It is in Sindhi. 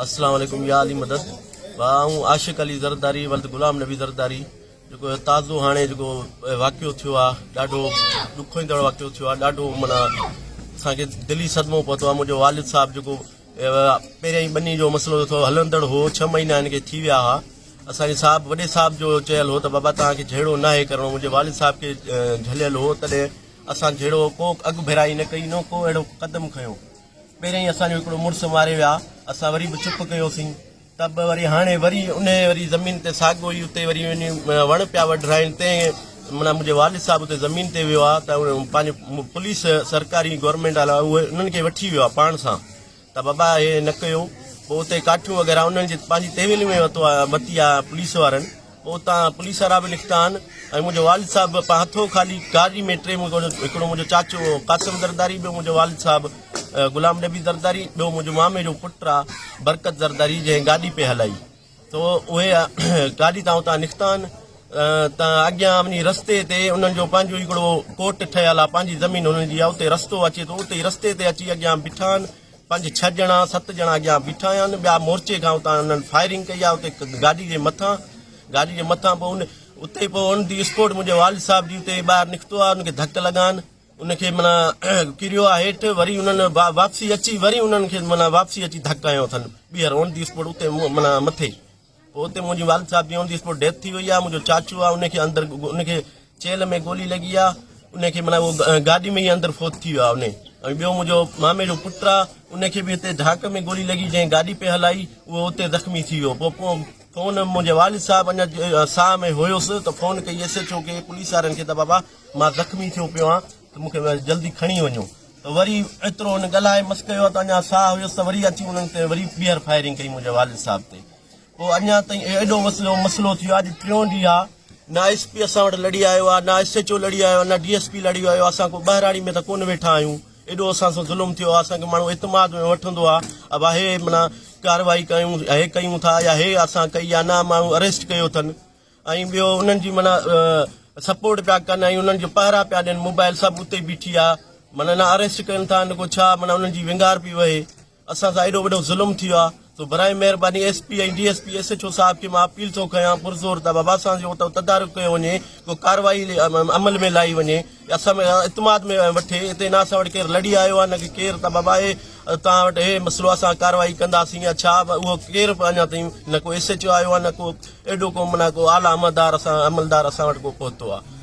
اسلام عليڪم يا علي مدد آئون عاشق علي زرداري ولد غلام نبي زرداري جيڪو تازو هاڻي جيڪو واقعو ٿيو آ ڏاڍو ڏکوئيندڙ واقعو ٿيو آ ڏاڍو معنيٰ اسان کي دلي صدمو پهتو آ منهنجو والد صاحب جيڪو پهريائين ٻني جو مسئلو جو ٿو هلندڙ هو، ڇهه مهينا هن کي ٿي ويا ها. اسان جي صاحب وڏي صاحب جو چيل هو ته بابا توهان کي جهيڙو ناهي ڪرڻو. منهنجي والد صاحب کي جهليل هو تڏهن اسان جهيڙو ڪو اڳڀيرائي نه ڪئي نه ڪو اهڙو قدم کنيو. پهريائين اسان جو هڪڙو مڙس ماري ويا. اسان وري به چپ ڪيوسين. ته به وري هاڻي وري انهيء وري زمين تي ساڳو ئي اتي وري وڃي وڻ پيا وڍرائين تنهن معنيٰ منهنجي والد صاحب اتي زمين تي ويو آهي ته پنهنجي پوليس سرڪاري گورنمينٽ وارا اهي انهن کي وٺي ويو آهي پاڻ سان ته بابا اهي نه ڪيو پوء اتي ڪاٺيون وغيره انهن جي پنهنجي تحويل ۾ ورتو آهي ورتي آهي پوليس وارن اتان پوليس وارا به نڪتا آهن ۽ منهنجو والد صاحب به پنهنجو هٿو خالي گاڏي ۾ ٽي مون جو هڪڙو منهنجو چاچو هو قاسم زرداري ٻيو منهنجو والد صاحب غلام نبي زرداري ٻيو منهنجو مامي جو پٽ آ برڪت زرداري جنهن گاڏي پئي هلائي تو اهي گاڏي تان اتان نڪتا آهن ته اڳيان وڃي رستي تي انهن جو پنهنجو هڪڙو ڪوٽ ٺهيل آ پنهنجي زمين انهن جي آ اتي رستو اچي ٿو اتي رستي تي اچي اڳيان بيٺا آهن پنج ڇهه ڄڻا ست ڄڻا اڳيان بيٺا آهن ٻيا مورچي کان اتان انهن فائرنگ ڪئي آهي اتي گاڏي جي مٿان گاڏي جي مٿان پوء ان اتي پوء ان دي اسپورٽ منهنجي والد صاحب جي اتي ٻاهر نڪتو آهي ان کي ڌڪ لڳا آهن ان کي منا ڪريو آهي هيٺ وري انهن واپسي اچي وري انهن کي منا واپسي اچي ڌڪ هنيو اٿن ٻيهر اون دي اسپورٽ اتي منا مٿي پوء اتي منهنجي والد صاحب جي آن دي اسپوٽ ڊيٿ ٿي وئي آهي منهنجو چاچو آهي ان کي اندر ان کي چيلهه ۾ گولي لڳي آهي ان کي معنيٰ اهو گاڏي ۾ ئي اندر فوت ٿي ويو آهي ان ۽ ٻيو منهنجو مامي جو پٽ آهي ان کي به هتي ڍاڪ ۾ گولي لڳي جنهن گاڏي پئي هلائي اهو اتي زخمي ٿي ويو پوء فون منهنجي والد صاحب اڃا ساهه ۾ هيس ته فون ڪئي ايس ايڇ او کي پوليس وارن کي ته بابا مان زخمي ٿيو پيو آهيان ته مون کي ويس جلدي کڻي وڃو ته وري ايترو هن ڳالهائي مس ڪيو آهي ته اڃا ساهه هيس ته وري اچي انهن تي وري ٻيهر فائرنگ ڪئي منهنجي والد صاحب تي پوء اڃا تائين ايڏو وسلو مسلو ٿيو آهي اڄ ٽيون ڏينهن آهي نه ايس پي اسان وٽ لڙي آيو آهي نه ايس ايچ او لڙي آيو آهي نه ڊي ايس پي لڙي آيو آهي اسان ڪو ٻهراڙي ۾ ته ڪونه ويٺا آهيون ايڏو اسان سان ظلم ٿيو آهي اسان کي ماڻهو اعتماد ۾ وٺندو آهي ابا هي منا ڪارروائي ڪيون هي ڪيون ٿا يا هي اسان ڪئي يا نه ماڻهو اريسٽ ڪيو اٿن ۽ ٻيو انهن جي معنيٰ سپورٽ پيا ڪن ۽ انهن جو پهرا پيا ڏين موبائل سڀ اتي بيٺي آ معنيٰ نه اريسٽ ڪن ٿا نه ڪو ڇا معنيٰ انهن جي ونگار پي وهي اسان سان ايڏو وڏو ظلم ٿيو آ سو براهي مهرباني S P ۽ D S P S H O صاحب کي مان اپيل ٿو ڪيان پرزور ته بابا اسان جو اتو تدارڪ ڪيو وڃي ڪو ڪارروائي عمل ۾ لائي وڃي اسان ۾ اعتماد ۾ وٺي اتي نه اسان وٽ ڪير لڙي آيو آهي نه ڪير ته بابا اهي توهان وٽ اهي مسئلو اسان ڪارروائي ڪنداسين يا ڇا اهو ڪير به اڃا تائين نه ڪو ايس ايڇ او آيو آهي نه ڪو ايڏو ڪو معنيٰ ڪو اعليٰ عملدار اسان عملدار اسان وٽ ڪو پهتو آهي